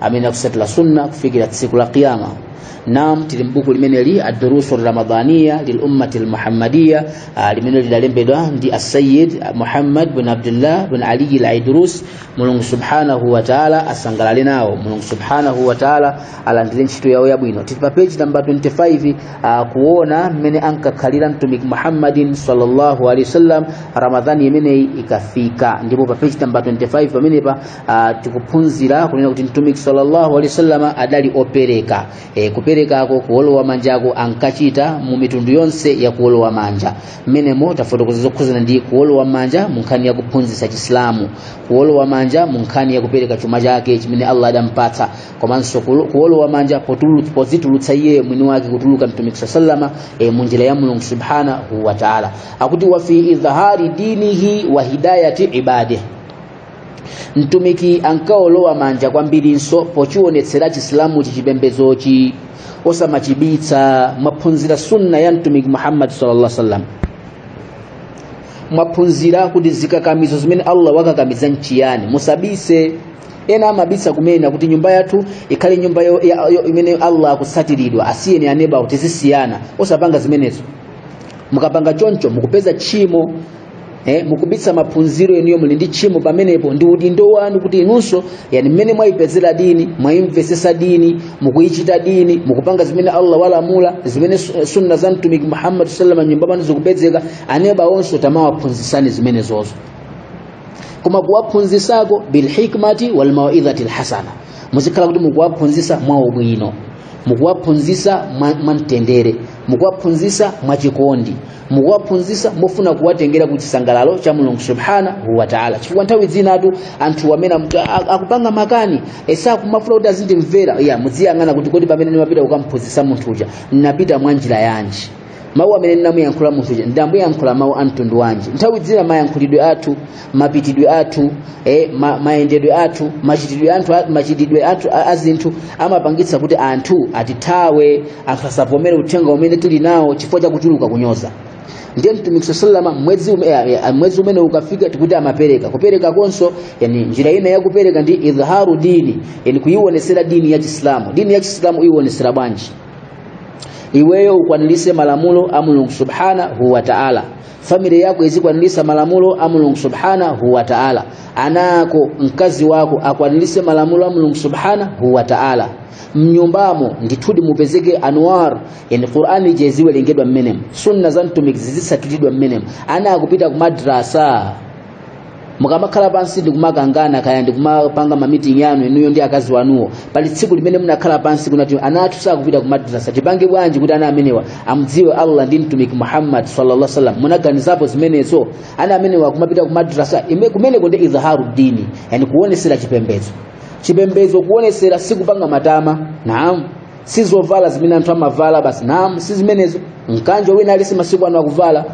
amene akusatira sunna kufikira tsiku la kiyama nam tili mbuku limeneli adurusu ramadaniya lilummati lmuhammadiya limene lidalembedwa ndi assayid muhammad bin abdullah bin aliyi laidrus mulungu subhanahu wataala asangalale nawo mulungu subhanahu wataala alandire ntchito yawo yabwino tili pa peji namba 25 ah, kuona mmene ankakhalira mtumiki muhammadin sallallahu alaihi wasallam ramadhani imeneyi ikafika ndipo pa peji namba 25 pamenepa Ah, tikuphunzira kunena kuti mtumiki sallallahu alaihi wasallam adali opereka e, kuperekako kuolowa manjako ankachita mu mitundu yonse ya kuolowa manja mmenemo tafotokoza zokhuzana ndi kuolowa manja mu nkhani ya kuphunzitsa chisilamu kuolowa manja mu nkhani ya kupereka chuma chake chimene allah adampatsa komanso kulo- kuolowa manja potulu- pozitulutsa iye mwini wake kutuluka mtumiki saa salama e, mu njira ya mulungu subhanahu wa taala akuti wa fi idhhari dinihi wa hidayati ibadihi mtumiki ankaolowa manja kwambirinso pochiwonetsera chisilamuchi chipembedzochi osamachibitsa mwaphunzira sunna ya mtumiki muhammad sallallahu alaihi wasallam mwaphunzira kuti zikakamizo zimene allah wakakamiza nchiyani musabise ena amabisa kunena kuti nyumba yathu ikhale nyumba yo- ya- yo- imene allah akutsatiridwa asiyeni aneba kuti tizisiyana osapanga zimenezo mukapanga choncho mukupeza tchimo eh, mukubitsa maphunziro enuyo muli ndi tchimo pamenepo ndi udindo wanu kuti inunso yani mmene mwayipezera dini mwayimvesesa dini mukuyichita dini mukupanga zimene allah walamula zimene su- sunna za mtumiki muhammad sallama nyumba panu zikupezeka aneba onso tamawaphunzisani zimenezozo koma kuwaphunzisako bilhikmati walmawidhati lhasana muzikhala kuti mukuwaphunzisa mwaubwino mukuwaphunzisa mwa- mwamtendere mukuwaphunzisa mwachikondi mukuwaphunzisa mofuna kuwatengera ku chisangalalo cha mulungu subhanahu wa taala chifukwa nthawi zinatu anthu amene mumati, "A- a- akupanga makani e sakumafuna kuti azindimvera iya mudziyang'ana kuti kodi pamene ndimapita kukamphunzisa munthu uja ndinapita mwa njira yanji mawu amene ndinamuyankhula munthu uja ndamuyankhula mawu a mtundu wanji nthawi zina mayankhulidwe athu mapitidwe athu eh, ma, mayendedwe athu machitidwe athu machitidwe athu a- a zinthu amapangitsa kuti anthu atithawe anthu asavomere uthenga umene tili nawo chifukwa cha kuchuluka kunyoza ndiye mtumiki saa salama mwezi ume- ya- ya- mwezi umene ukafika tikuti amapereka kupereka konso yani njira ina ya kupereka ndi idhharu dini yani kuiwonesera dini ya chisilamu dini ya chisilamu kuiwonesera bwanji iweyo ukwanirise malamulo a mulungu subhanahu wa ta'ala family yako izikwanirisa malamulo a mulungu subhanahu wa ta'ala ana ako mkazi wako akwanirise malamulo a mulungu subhanahu wa ta'ala mnyumbamo ndithudi mupezeke anwar yani qur'ani ije iziwerengedwa mmenemo sunna za mtumiki zizisatulidwa mmenemo ana akupita ku madrasa mukamakhala pansi ndikumakangana kaya ndikumapanga mamiting yanu inuyo ndi akazi wanuwo pali tsiku limene munakhala pansi kunena kuti ana athu sakupita kumadrasa tipange bwanji kuti ana amenewa amdziwe allah ndi mtumiki muhammad sallallahu sallam munaganizapo zimenezo ana amenewa kumapita kumadrasa ime- kumeneko ndi idhaharu dini yani kuonesera chipembedzo chipembedzo kuonesera sikupanga matama naam si zovala zimene anthu amavala basi naam si zimenezo mkanjo wina aliyense masiku ano akuvala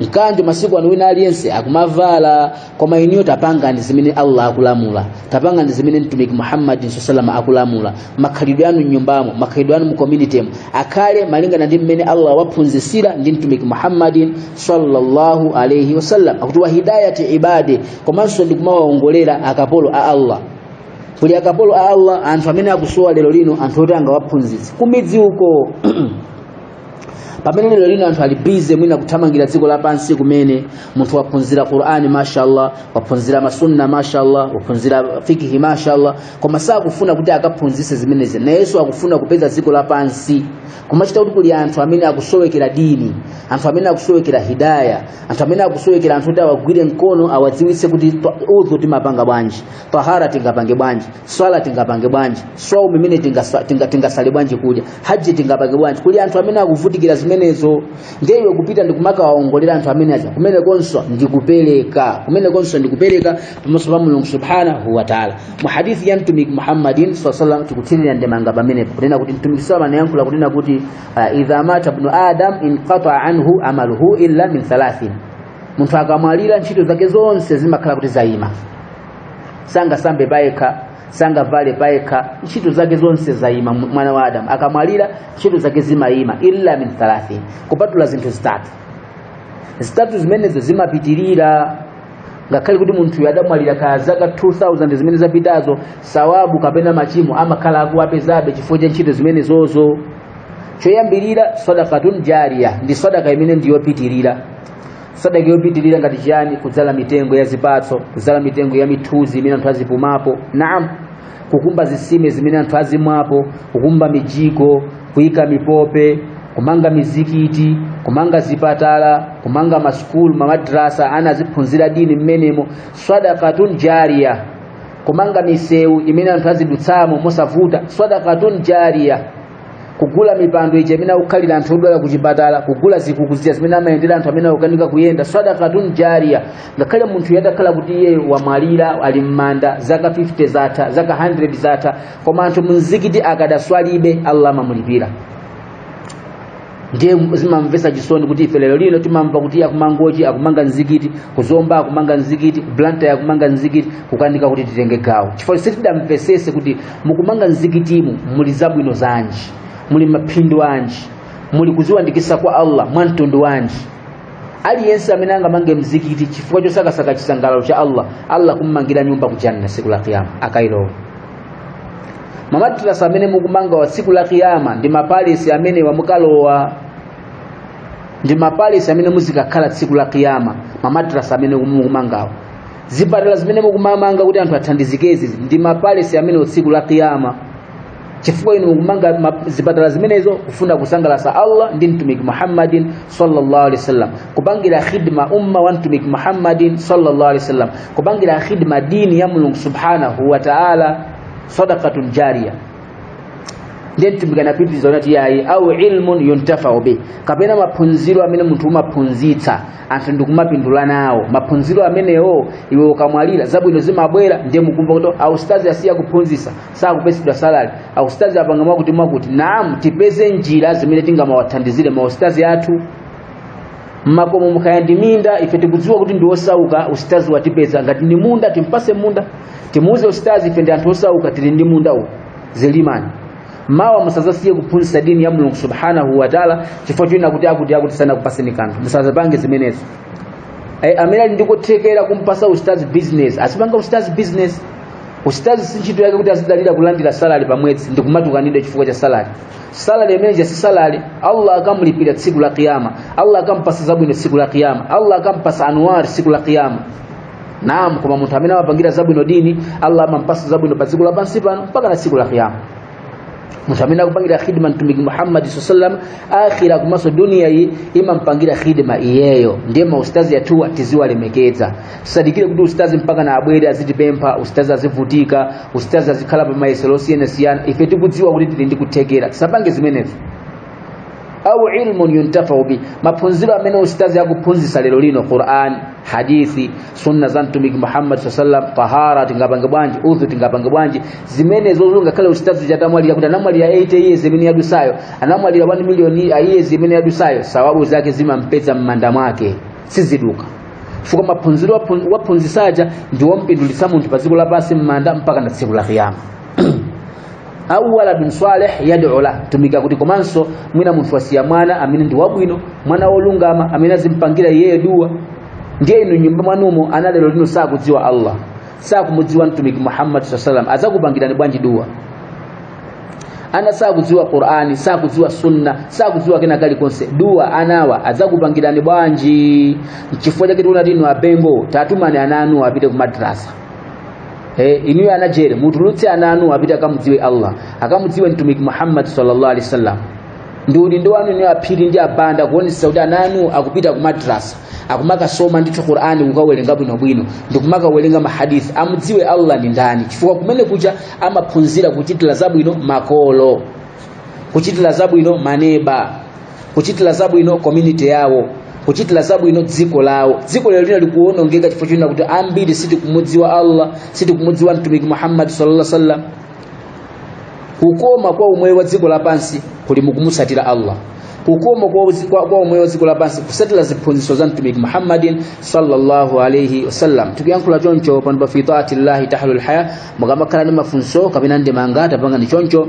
mkanjo masiku ano wina aliyense akumavala koma inuyo tapangani zimene allah akulamula tapangani zimene mtumiki muhammadin saa salama akulamula makhalidwe anu mnyumbamo makhalidwe anu mucommunitemo akhale malingana ndi mmene allah waphunzisira ndi mtumiki muhammadin sallallahu alaihi wasallam akuti wa hidayati ibadi komanso ndi kumawaongolera akapolo a allah kuli akapolo a allah anthu amene akusowa lero lino anthu oti angawaphunzitse kumidzi uko pamene lero lino anthu ali busy mwina kuthamangira dziko lapansi kumene munthu waphunzira qur'ani mashallah waphunzira masunna mashallah waphunzira fikihi mashallah koma sakufuna kuti akaphunzise zimenezi nayenso akufuna kupeza dziko lapansi kumachita kuti kuli anthu amene akusowekera dini anthu amene akusowekera hidaya anthu amene akusowekera anthu kuti awagwire mkono awadziwitse kuti udhu timapanga bwanji tahara tingapange bwanji swala tingapange bwanji swaumu imene tingaswa- tinga- tingasale bwanji kudya haji tingapange bwanji kuli anthu amene akuvutikira zimenezo ndiye iwe kupita ndikumakawaongolera anthu amene aja kumenekonso ndi kupereka kumene konso ndi kupereka pamaso pa mulungu subhanahu wa taala mu hadithi ya mtumiki muhammadin saa salam tikuthirira ndemanga pamenepo kunena kuti mtumiki saa anayankhula kunena kuti ah, idha mata bnu adam inqataa anhu amaluhu illa min thalathin munthu akamwalira ntchito zake zonse zimakhala kuti zayima sangasambe payekha sangavale payekha ntchito zake zonse zayima mu- mwana wa adamu akamwalira ntchito zake zimayima illa min thalathin kupatula zinthu zitatu zitatu zimenezo zimapitirira ngakhale kuti munthuyo adamwalira kaya zaka 2000 zimene zapitazo sawabu kapena machimo amakhala akuwapezabe chifukwa cha ntchito zimenezozo choyambirira sadakatun jariya ndi sadaka imene ndiyopitirira sadaka yopitirira ngati chiyani kudzala mitengo ya zipatso kudzala mitengo ya mithuzi imene anthu azipumapo naam kukumba zisime zimene anthu azimwapo kukumba mijigo kuyika mipope kumanga mizikiti kumanga zipatala kumanga masukulu mamadrasa ana aziphunzira dini mmenemo sadakatun jariya kumanga misewu imene anthu azidutsamo mosavuta sadakatun jariya kugula mipando ija imene akukhalira anthu odwala ku chipatala kugula zikuku zija zimene amayendera anthu amene akukanika kuyenda sadakatun jariya ngakhale munthuyo adakhala kuti iye wamwalira ali m'manda zaka 50 zatha zaka 100 zatha koma anthu mumzikiti akadaswalibe allah amamulipira ndiye zimamvesa chisoni kuti ife lero lino timamva kuti akumangochi akumanga mzikiti kuzomba akumanga mzikiti kublanta akumanga mzikiti kukanika kuti titenge gawo chifukwa sitidamvesese kuti mukumanga mzikitimu muli zabwino zanji muli maphindu anji muli kuziwandikisa kwa allah mwa mtundu wanji aliyense amene angamange mzikiti chifukwa chosakasaka chisangalalo cha allah allah akam'mangira nyumba ku janna siku la kiyama akailowa mamadrasa amene mukumangawa tsiku la kiyama ndi mapalesi amenewa mukalowa ndi mapalesi amene muzikakhala tsiku la kiyama mamadrasa amene mukumangawa zipatala zimene mukumanga kuti anthu athandizikezi ndi mapalesi amene tsiku la kiyama chifukwa inu mukumanga zipatala zimenezo kufuna kusangalasa allah ndi mtumiki muhammadin sallallahu alaihi wasallam kupangira khidma umma wa mtumiki muhammadin sallallahu alaihi wasallam kupangira khidma dini ya mulungu subhanahu wa ta'ala sadaqatun jariya ndiye mtumiki anapitiriza anati yayi au ilmun yuntafau bi kapena maphunziro amene munthu umaphunzitsa anthu ndikumapindula nawo maphunziro amenewo iwe ukamwalira zabwino zimabwera ndiye mukumva kuti austazi asiya kuphunzitsa sakupesedwa salary ausitazi apanga mwakuti mwakuti naam tipeze njira zimene tingamawathandizire mausitazi athu mmakomomu kaya ndi minda ife tikudziwa kuti ndi osauka usitazi watipeza ngati ndi munda timpase munda timuuze usitazi ife ndi anthu osauka tili ndi munda uwu zilimani mmawa musazasiye kuphunzitsa dini ya mulungu subhanahu wataala chifukwa choti kuti akuti akuti sanakupaseni kanthu musazapange zimenezo Eh, amene ali ndikuthekera kumpasa usitazi business asipanga usitazi business usitazi si ntchito yake kuti azidalira kulandira salary pa mwezi ndi kumatukanidwa chifukwa cha salary salary imene ija si salary allah akamulipira tsiku la kiyama allah akampasa zabwino tsiku la kiyama allah akampasa anuar tsiku la kiyama naam koma munthu amene amapangira zabwino dini allah amampasa zabwino pa dziko lapansi pano mpaka na tsiku la kiyama munthu amene akupangira khidma mtumiki Muhammad sallam akhira komanso dunia iyi imampangira khidma iyeyo ndiye maustazi athuwa tiziwalemekeza tisadikire kuti ustazi mpaka na abwere azitipempha ustazi azivutika ustazi azikhala pa mayesero osiyanasiyana ife tikudziwa kuti tili ndi kuthekera tisapange zimenezo au ilmun yuntafau bi maphunziro amene ustazi akuphunzisa lero lino quran hadithi sunna za mtumiki muhammad saa sallam tahara tingapange bwanji udhu tingapange bwanji zimenezozo ngakhale usitazi uja atamwalira kuti anamwalira 8 years imene yadusayo anamwalira 1 million years imene yadusayo sawabu zake zimampeza m'manda mwake siziduka chifukwa maphunziro waphunzisaja ndiwompindulitsa munthu pa dziko lapansi m'manda mpaka na tsiku la kiyama au waladun salih yad'u la mtumiki akuti komanso mwina munthu wasiya mwana amene ndi wabwino mwana wolungama amene azimpangira iyeyo dua ndiye inu m'nyumba mwanumo ana lero lino sakudziwa allah sakumudziwa mtumiki muhammad sallallahu alaihi wasallam azakupangirani bwanji dua ana sakudziwa qur'ani sakudziwa sunna sakudziwa kena kalikonse dua anawa azakupangirani bwanji nchifukwa chake tikunena kuti inu abengo tatumani ana anu apite ku madrasa Eh, inuyo anajere mutulutse ana anu apite akamudziwe allah akamudziwe mtumiki muhammad sallallahu alaihi wasallam ndi udindo wanu inuyo aphiri ndi abanda kuonetsa kuti ana anu akupita ku madrasa akumakasoma ndithu qur'ani kukawerenga bwinobwino ndi kumakawerenga mahadithi amudziwe allah ndi ndani chifukwa kumene kuja amaphunzira kuchitira zabwino makolo kuchitira zabwino maneba kuchitira zabwino community yawo kuchitira zabwino dziko lawo dziko lero lino likuwonongeka chifukwa chonena kuti ambiri sitikumudziwa allah sitikumudziwa mtumiki muhammad sallallahu alaihi wasallam kukoma kwa umoyo wa dziko lapansi kuli mukumutsatira allah kukoma kwa, uzi- kwa, kwa umoyo wa dziko lapansi kusatira ziphunzitso za mtumiki muhammadin sallallahu alaihi wasallam tikuyankhula choncho pano pa fitaati llahi tahlul haya mukamakhala ndi mafunso kapena ndemanga tapangani choncho